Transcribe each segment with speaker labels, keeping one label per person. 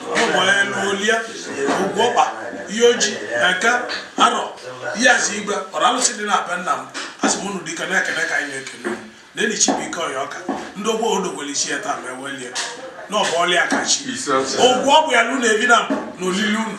Speaker 1: ụmụeluolia ugwọkpa Iyi Oji eke arọ Iyi Azị igwe ọra alụsị dị na be nna m asị m unu dịka na-ekene ka anyị na-ekene na enyi Chibuikem Oyoka ndị ogbo odogwere isi ya taa ma ewelie na ọ bụ Ọlịa kachi ụgwọ ọ bụ ya na unu ebi na mbụ na olili unu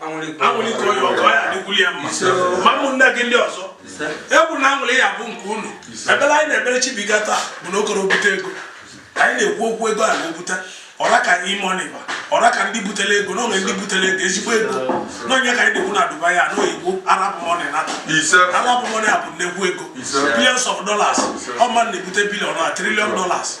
Speaker 1: anwụlite onye ọkọ ya adịkwuru ya mma ma ụmụnne gị ndị ọzọ egwu na aṅụlị ya bụ nke unu ebele anyị na-ebere Chibuikem taa bụ na okoro bute ego anyị na-ekwu okwu ego a na-ebute ọ ra ka E-Money ba ọ ra ka ndị butere ego n'onwe ndị butere ego ezigbo ego n'ọ nya ka anyị na-ekwu na Dubai ya n'oyibo arab money nata arab money a bụ nnekwu ego billions of dollars ọ ma na-ebute billion na trillion dollars